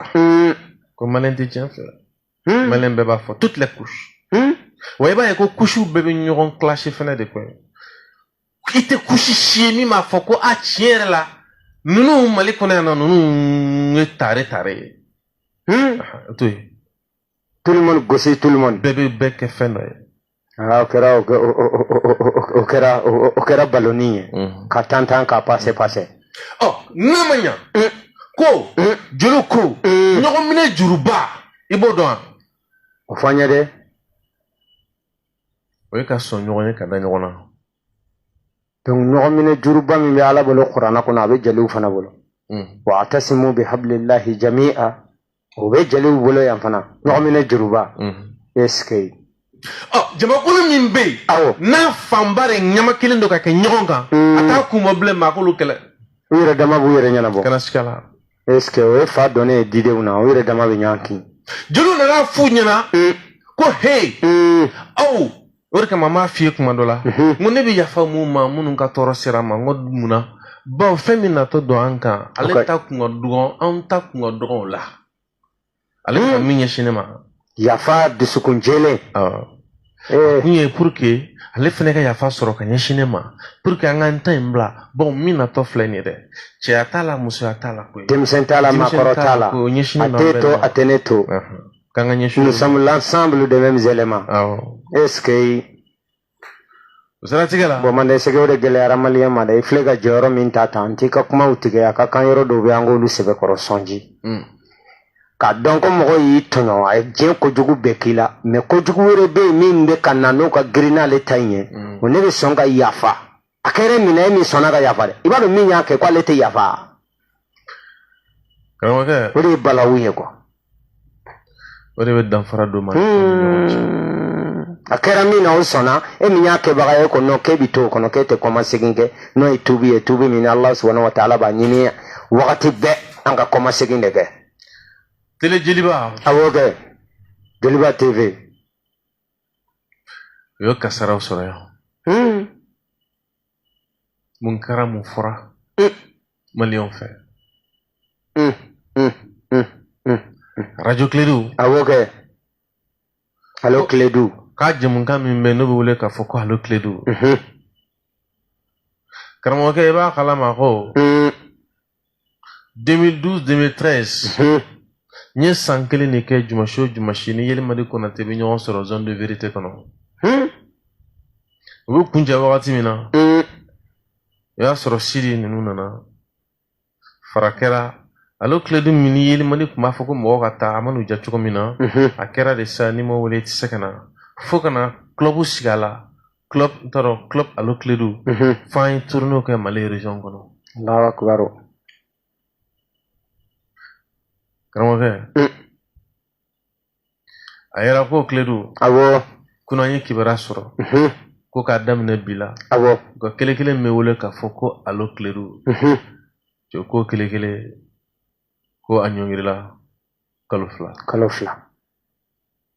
Hmm. ko maliyɛn tɛ tiɲɛ fɛ hmm. maliyɛn bɛɛ b'a fɔ toutes les couches hmm. wa i b'a ye ko kusiw bɛɛ bɛ ɲɔgɔn clasher fɛnɛ de quoi i tɛ kusi si ye min b'a fɔ ko a tiɲɛ yɛrɛ la ninnu mali kɔnɔ yan non ninnu ye tare tare ye to yen tout le monde gosi tout le monde bɛɛ bɛ bɛɛ kɛ fɛn dɔ ye Ah, o kɛra o kɛra o kɛra baloni ye mm. ka tan tan ka pase pase ɔ n'a ma ɲa mm. ko mm. juru ko ɲɔgɔn minɛ juruba i b'o dɔn wa o fɔ an ye dɛ o ye ka sɔn ɲɔgɔn ye ka da ɲɔgɔn na donc ɲɔgɔn minɛ juruba min bɛ ala bolo kuranna kɔnɔ a bɛ jeliw fana bolo wa atasimu bi habilillahi jami'a o bɛ jeliw bolo yan fana ɲɔgɔnminɛ juruba est ce que ɔ jamakulu min bɛ yen awɔ n'a fanba de ɲama kelen don ka kɛ ɲɔgɔn kan a t'a kun bɔ bilen maa k'olu kɛlɛ u yɛrɛ dama b'u yɛrɛ ɲɛnabɔ kana siga a la est ce que o ye fa donnen ye didenw na u yɛrɛ dama bɛ ɲɔgɔn kin jeliw nana a f'u ɲɛna ko he aw o de kama n b'a f'i ye kuma dɔ la n ko ne bɛ yafa mɔgɔw ma minnu ka tɔɔrɔ sera n ma n ko mun na bawo fɛn min natɔ don an kan ale ta kun ka dɔgɔn anw ta kun ka dɔgɔn o la ale ka min ɲɛsin ne ma yafa dusukun jɛlen kun ye pour que ale fɛnɛ ka yafa sɔrɔ ka ɲɛsin ne ma pour que an ka n ta in bila bawo min natɔ filɛ nin ye dɛ cɛya t'a la musoya t'a la koyi denmisɛn t'a la maakɔrɔ t'a la a t'e to a tɛ ne to k'an ka ɲɛsin nous sommes l'ensemble des mêmes éléments awɔ est ce que o siratigɛ la bon manden sɛgɛ o de gɛlɛyara maliyɛn ma dɛ i filɛ ka jɔyɔrɔ min ta ta an t'i ka kumaw tigɛ a ka kan yɔrɔ dɔw bɛ an k'olu sɛbɛkɔrɔ sɔn ji Mm. k'a dɔn ko mɔgɔ y'i tɔɲɔ a ye diɲɛ kojugu bɛɛ k'i la mais kojugu wɛrɛ bɛ yen min bɛ ka na n'o ka girin n'ale ta in ye Mm. o ne bɛ sɔn ka yafa a kɛra min na e min sɔnna ka yafa dɛ i b'a dɔn min y'a kɛ k'ale tɛ yafa karamɔgɔkɛ o de ye balawu ye quoi o de bɛ danfara don ma hmm. a kɛra min na o sɔnna e min y'a kɛbaga ye ko non k'e bɛ to o kɔnɔ k'e tɛ kɔma segin kɛ n'o ye tubi ye tubi min ala subahana wa taala b'a ɲini wagati bɛɛ an ka kɔma segin de kɛ tele jeliba awɔ kɛ jeliba tv u ye kasaraw sɔrɔ yan hmm. mun kɛra mun fɔra hmm. maliyɛnw fɛ hmm, arajo kiledu awɔ kɛ alo kiledu ka jɛmukan min bɛ n'o bɛ wele k'a fɔ ko alo kiledu karamɔgɔkɛ i b'a kalama ko 2012 2013 n ye san kelen de kɛ jumasi o jumasi ni yelimadi konate bɛ ɲɔgɔn sɔrɔ zone de vérité kɔnɔ u bɛ kuncɛ wagati min na o y'a sɔrɔ sidi ninnu nana fara kɛra alo kiledu min ni yelimadi tun b'a fɔ ko mɔgɔ ka taa a man'u ja cogo min na a kɛra de sa n'i ma wele i tɛ se ka na fo ka na club sigi a la club n t'a dɔn club alo kiledu Mhm. f'an ye tournée kɛ mali région kɔnɔ Allahu akbar. karamɔgɔkɛ Mm. a yɛrɛ ko kiledu Awɔ. kunun an ye kibaruya sɔrɔ Mhm. ko k'a daminɛ bi la Awɔ. u ka kelen kelen min bɛ wele k'a fɔ ko alo kiledu Mhm. cɛ ko kelen kelen ko a ɲɔngirila kalo fila Kalo fila.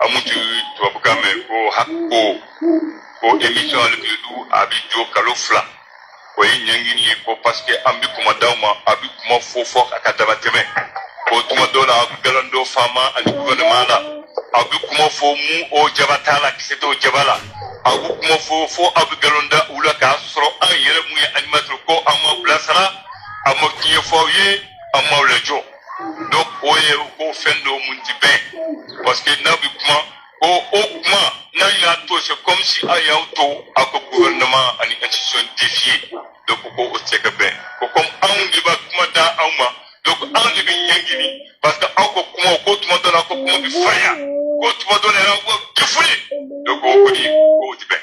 aw mun ti tubabukan mɛn ko hac ko ko émission alo kiledu a bɛ jɔ kalo fila o ye ɲangini ye ko parce que an bɛ kuma d'aw ma a bɛ kuma fɔ fo a ka damatɛmɛ ko tuma dɔw la a bɛ galon da faama ani gouvernement la a bɛ kuma fɔ mun o jaba t'a la kisɛ t'o jaba la a bɛ kuma fɔ fo a bɛ galon da u la k'a sɔrɔ an yɛrɛ mun ye animateur ko an m'aw bilasira an ma tiɲɛ fɔ aw ye an m'aw lajɔ donc o ye u ko fɛn don mun ti bɛn parce que n'a bɛ kuma ko o kuma n'an y'a to c'est comme si an y'aw to a ka gouvernement ani institution défier donc ko o tɛ ka bɛn ko comme anw de bɛ kuma da aw ma donc anw de bɛ ɲangini parce que aw ka kuma ko tuma dɔ la ko kuma bɛ farinya ko tuma dɔ la yɛrɛ aw bɛ ka fili donc o kɔni o tɛ bɛn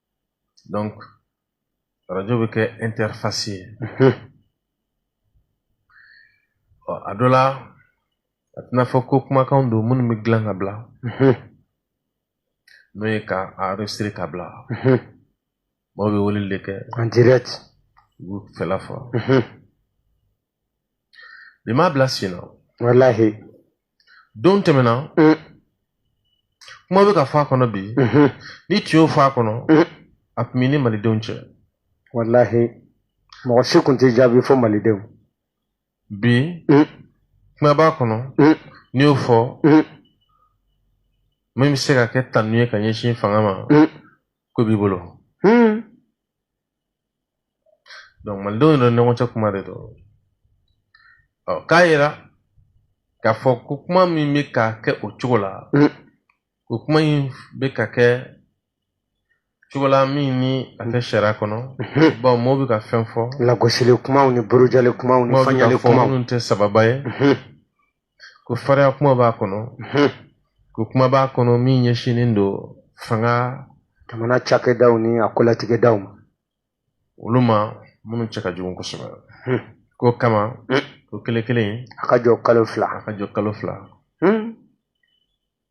donc rajo bɛ kɛ interface ye ɔ a dɔ la a tɛna fɔ ko kumakanw don minnu bɛ dilan ka bila n'o ye ka a enregistrer ka bila maaw bɛ weleli de kɛ en direct u b'u fɛla fɔ bi m'a bila sen na walahi don tɛmɛna mm. kuma bɛ ka fɔ a kɔnɔ bi mm-hmm. n'i tun y'o fɔ a kɔnɔ mm. a tun b'i ni malidenw cɛ walahi mɔgɔ si tun t'i jaabi fo malidenw bi mm. kuma b'a kɔnɔ n'i y'o fɔ min bɛ se ka kɛ tanu ye ka ɲɛsin fanga ma ko b'i bolo donc malidenw yɛrɛ ni ɲɔgɔn cɛ kuma de don ɔ k'a yira k'a fɔ ko kuma min bɛ ka kɛ o cogo la mm. o kuma in bɛ ka kɛ cogo la min ni a tɛ sariya kɔnɔ mm-hmm. bawo mɔgɔw bɛ ka fɛn fɔ lagosili kumaw ni burujali kumaw ni fanyali kumaw minnu tɛ sababa ye mm-hmm. ko fariya kuma b'a kɔnɔ ko kuma b'a kɔnɔ min ɲɛsinnen don fanga jamana cakɛdaw ni a kolatigɛdaw ma olu ma minnu cɛ ka jugu kosɛbɛ k'o kama ko kelen kelen a ka jɔ kalo fila a ka jɔ kalo fila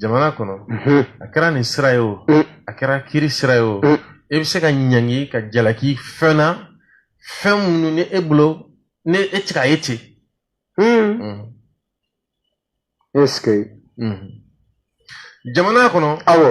jamana kɔnɔ a kɛra nin sira ye o a kɛra kiri sira ye o e bɛ se ka ɲangi ka jalaki fɛn na fɛn minnu ni e bolo ni e tɛ k'a ye ten jamana kɔnɔ awɔ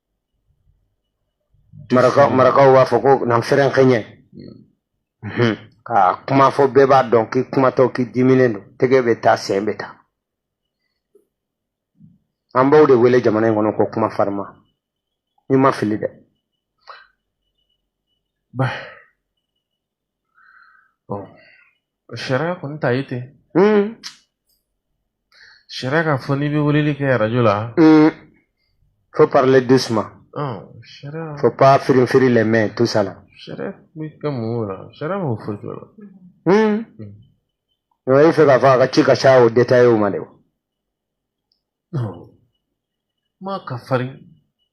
marakaw marakaw b'a fɔ ko nan fɛrɛn kɛɲɛ mhm. ka kuma fɔ bɛɛ b'a dɔn k'i kumatɔ k'i diminen don tɛgɛ bɛ taa sen bɛ taa an b'o de wele jamana in kɔnɔ ko kuma farinman ni n ma fili dɛ Bon, sariya kɔni t'a ye ten sariya k'a fɔ n'i bɛ weleli kɛ arajo la faut parler doucement sariya faut pas firin firin les mains tout ça là sariya bɛ kɛ mun la sariya m'o foyi kɛ la o ye fɛ k'a fɔ a ka ci ka ca o détaillé ma de wa m'a ka farin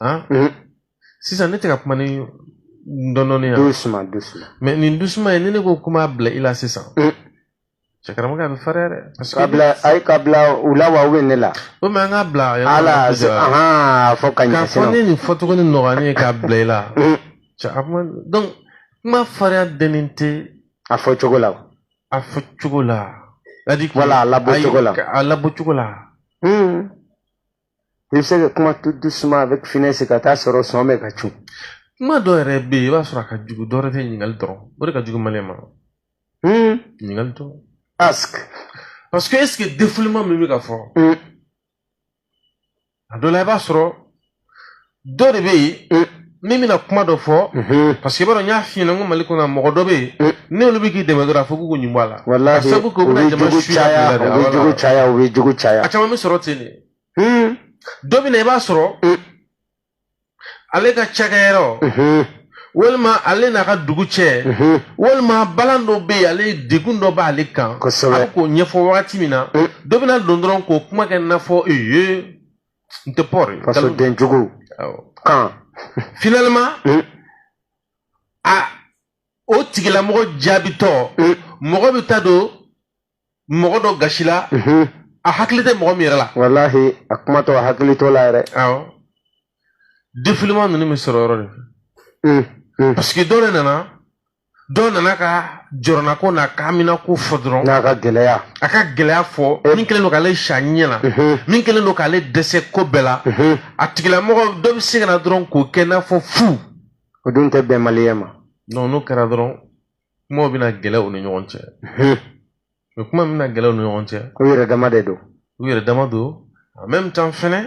han mhm. sisan ne tɛ ka kuma ni dɔndɔni yan doucement doucement mais nin doucement ye ni ne ko kuma bila i la sisan mhm. cɛ karamɔgɔ a bɛ fariya dɛ parce que k'a bila ayi k'a bila u la wa ou bien ne la o mais an k'a bila ala ahan fo ka ɲɛ k'a fɔ ne nin fɔcogo ni nɔgɔya ne ye k'a bila i la mhm. cɛ a kuma donc kuma fariya dɛnnen tɛ a fɔ cogo la a fɔ cogo la c'est à dire wala a labɔ cogo la a labɔ cogo la i bɛ se ka kuma tout doucement avec finesse ka t'a sɔrɔ sɔn bɛ ka cun kuma dɔ yɛrɛ bɛ yen i b'a sɔrɔ a ka jugu dɔ wɛrɛ tɛ ɲininkali dɔrɔn o de ka jugu maliyɛn ma ɲininkali dɔrɔn est-ce que parce que est-ce que défoulement min bɛ ka fɔ a dɔ la i b'a sɔrɔ dɔ de bɛ yen min bɛna kuma dɔ fɔ parce que i b'a dɔn n y'a f'i ɲɛna n ko mali kɔnɔ mɔgɔ dɔ bɛ yen n'olu bɛ k'i dɛmɛ dɔrɔn a fɔ k'u ɲin bɔ a la walahi ka sabu kɛ u bɛna jama suya caya u bɛ jugu caya u bɛ jugu caya a caman bɛ sɔrɔ ten de dɔ bɛ na i b'a sɔrɔ ale ka cakɛyɔrɔ walima ale n'a ka dugu cɛ walima balan dɔ bɛ yen ale degun dɔ b'ale kan a bɛ k'o ɲɛfɔ wagati min na dɔ bɛna don dɔrɔn k'o kuma kɛ n'a fɔ ee n tɛ pɔri fasoden jugu kan finalement hmm. a o tigilamɔgɔ jaabitɔ hmm. mɔgɔ bɛ taa don mɔgɔ dɔ gasi la hmm. a hakili tɛ mɔgɔ min yɛrɛ la walahi a kumatɔ a hakili t'o la yɛrɛ awɔ défoulement ninnu bɛ sɔrɔ o yɔrɔ de fɛ parce que dɔ de nana dɔ nana ka jɔrɔnako n'a ka haminako fɔ dɔrɔn n'a ka gɛlɛya a ka gɛlɛya fɔ eh. min kɛlen don k'ale sa ɲɛ na mhm. min kɛlen don k'ale dɛsɛ ko bɛɛ la mhm. a tigilamɔgɔ dɔ bɛ se ka na dɔrɔn k'o kɛ n'a fɔ fu o dun tɛ bɛn maliyɛn ma non n'o kɛra dɔrɔn kumaw bɛna gɛlɛya u ni ɲɔgɔn cɛ mhm. o kuma bɛna gɛlɛya u ni ɲɔgɔn cɛ u yɛrɛ dama de don u yɛrɛ dama don en même temps fɛnɛ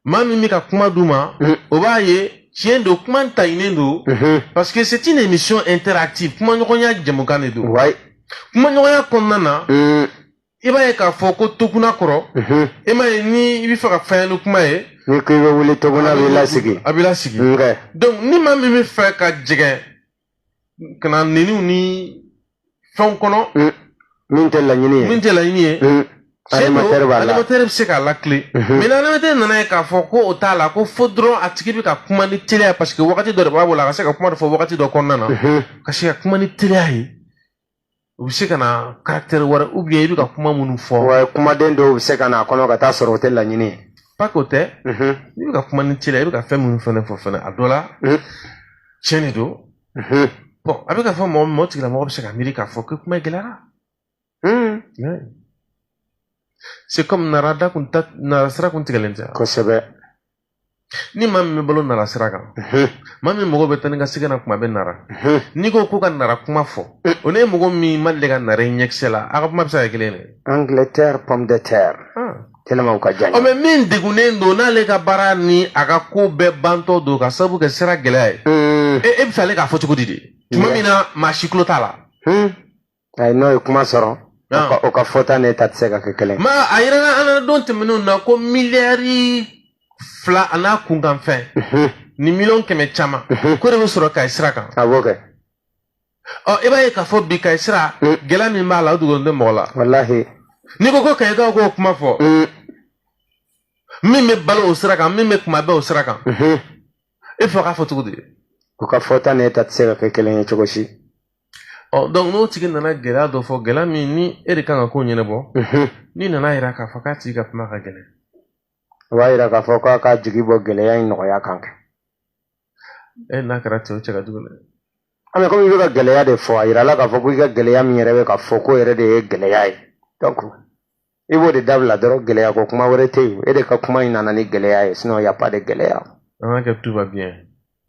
maa min bɛ ka kuma d'u ma mhm. o b'a ye tiɲɛ don kuma taɲinen don mhm. parce que c'est une émission interactive kumaɲɔgɔnya jɛmukan de don kumaɲɔgɔnya kɔnɔna na mhm. i b'a ye k'a fɔ ko toguna kɔrɔ i m'a ye ni i bɛ fɛ ka farinya ni kuma ye n'i ko i bɛ wuli toguna a b'i lasigi a b'i lasigi donc ni maa min bɛ fɛ ka jɛgɛn ka na neniw ni fɛnw kɔnɔ mm. min tɛ laɲini ye min tɛ laɲini ye mm. animatɛri b'a la animatɛri bɛ se k'a lakile mm-hmm. mais ni animatɛri nana ye k'a fɔ ko o t'a la ko fo dɔrɔn a tigi bɛ ka kuma ni teliya parce que wagati dɔ de b'a bolo a ka se ka kuma dɔ fɔ wagati dɔ kɔnɔna na mm-hmm. ka se ka kuma ni teliya ye u bɛ se ka na karaktɛri wɛrɛ ou bien i bɛ ka kuma minnu fɔ wa kumaden dɔw bɛ se ka na a kɔnɔ ka taa sɔrɔ o tɛ laɲini ye parce que o tɛ n'i bɛ ka kuma ni teliya i bɛ ka fɛn minnu fɛnɛ fɔ fɛnɛ a dɔ la tiɲɛ de don bon a bɛ ka fɔ mɔgɔ mɔgɔ tigilamɔgɔ bɛ se ka miiri k'a fɔ ko kuma gɛlɛyara c'est comme narada kun ta nara sira kun tigɛlen tɛ kosɛbɛ ni maa min bɛ balo nara sira kan maa min mɔgɔw bɛ taa ni ka segin na kuma bɛɛ nara n'i ko k'o ka nara kuma fɔ o n'e ye mɔgɔ min ma deli ka nara y'i ɲɛkisɛ la a ka kuma bɛ se ka kɛ kelen de angleterre pomme de terre tellement u ka jan mais min degunnen don n'ale ka baara ni a ka ko bɛɛ bantɔ don ka sabu kɛ sira gɛlɛya ye e bɛ fɛ ale k'a fɔ cogo di de tuma min na maa si tulo t'a la ayi n'o ye kuma sɔrɔ o ka fɔta n'e ta tɛ se ka kɛ kelen ma a yirala an na don tɛmɛnenw na ko miliyari fila an'a kunkanfɛn mhm. ni miliyɔn kɛmɛ caman mhm. k'o de bɛ sɔrɔ kayi sira kan a b'o kɛ ɔ i b'a ye k'a fɔ bi kayi sira mm. gɛlɛya min b'a la o dogolen tɛ mɔgɔ la walahi n'i ko ko kayikaw k'o kuma fɔ mm. min bɛ balo o sira kan min bɛ kuma bɛɛ o sira kan mhm. e fɛ k'a fɔ cogo di u ka fɔta ni e ta tɛ se ka kɛ kelen ye cogo si ɔ donc n'o tigi nana gɛlɛya dɔ fɔ gɛlɛya min ni e de kan ka ko ɲɛnabɔ mhm. n'i nana yira k'a fɔ k'a tigi ka kuma ka gɛlɛn o b'a yira k'a fɔ k'a ka jigi bɔ gɛlɛya in nɔgɔya kan kɛ e n'a kɛra cɛw cɛ ka jugu dɛ mais comme i bɛ ka gɛlɛya de fɔ a yirala k'a fɔ ko i ka gɛlɛya min yɛrɛ bɛ ka fɔ k'o yɛrɛ de ye gɛlɛya ye donc i b'o de dabila dɔrɔn gɛlɛya ko kuma wɛrɛ tɛ yen e de ka kuma in nana ni gɛlɛya ye sinon y a pas de gɛlɛya an ka kɛ tout va bien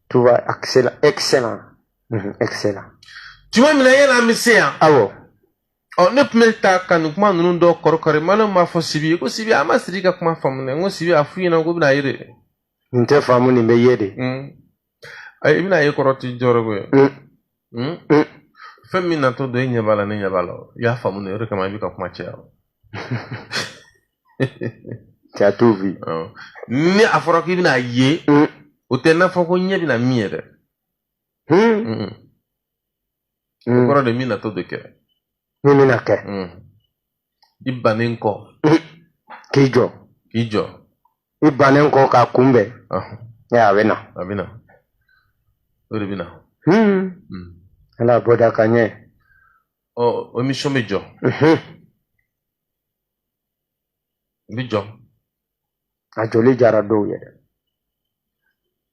tout va excellent excellent mhm, excellent tuma min na yɛlɛ an bɛ se yan awɔ ɔ ne tun bɛ taa ka nin kuma ninnu dɔ kɔrɔkɔrɔ mana m'a fɔ sibi ye ko sibi an ma sidi ka kuma faamu dɛ n ko sibi a f'u ɲɛna k'u bɛn'a ye de nin tɛ faamu nin bɛ ye de ayi i bɛna ye kɔrɔ tɛ jɔrɔ ko ye hmm? hmm? fɛn min natɔ don e ɲɛ b'a la ne ɲɛ b'a la i y'a faamu de o de kama i bɛ ka kuma caya cɛ t'o bi ni a fɔra k'i bɛna ye o tɛ n'a fɔ ko ɲɛ bɛna min ye dɛ o kɔrɔ de min natɔ de kɛ min bɛna kɛ i bannen kɔ k'i jɔ k'i jɔ i bannen kɔ k'a kunbɛn a bɛ na a bɛ na o de bɛ na ala b'o da ka ɲɛ ɔ o emission bɛ jɔ n bɛ jɔ a jɔli diyara dɔw ye dɛ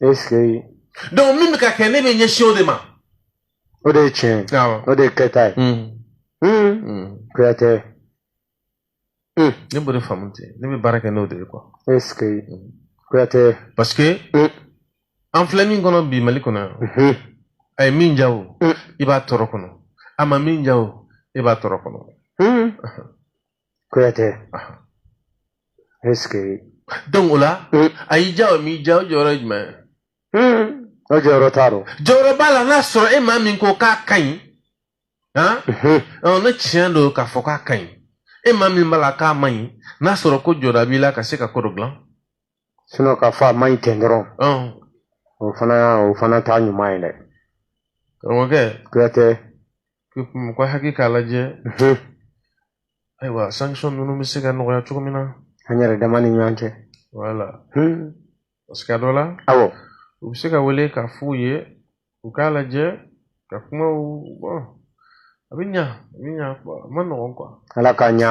est-ce que donc min bɛ ka kɛ ne bɛ ɲɛsin o de ma o de ye tiɲɛ ye awɔ o de ye kɛta ye Mm, Hmm, mm. kuyatɛ Hmm, ne b'o de faamu ten ne bɛ baara kɛ n'o de ye quoi est-ce que Mm. kuyatɛ parce que Mm. an filɛ min kɔnɔ bi mali kɔnɔ yan mhm, a ye min diya o Mm. i b'a tɔɔrɔ kɔnɔ a ma min diya o i b'a tɔɔrɔ kɔnɔ hmm, kuyatɛ est-ce que donc o la mm. a y'i diya o m'i diya o jɔyɔrɔ ye jumɛn ye mm. o jɔyɔrɔ t'a rɔ jɔyɔrɔ b'a la n'a sɔrɔ e maa min ko k'a ka ɲi han mm-hmm. ne tiɲɛ don k'a fɔ k'a ka ɲi e maa min b'a la k'a man ɲi n'a sɔrɔ ko jɔda b'i la ka se ka ko dɔ dilan sinon k'a fɔ a man ɲi ten dɔrɔn o fana o fana t'a ɲuman ye dɛ karamɔgɔkɛ kuyatɛ kuma ko hakili k'a lajɛ ayiwa sanction ninnu bɛ se ka nɔgɔya cogo min na an yɛrɛ dama ni ɲɔgɔn cɛ voilà parce que a dɔ la awɔ u bɛ se ka wele k'a f'u ye u k'a lajɛ ka kumaw bɔn a bɛ ɲa a bɛ ɲa a man nɔgɔn quoi ala k'a ɲa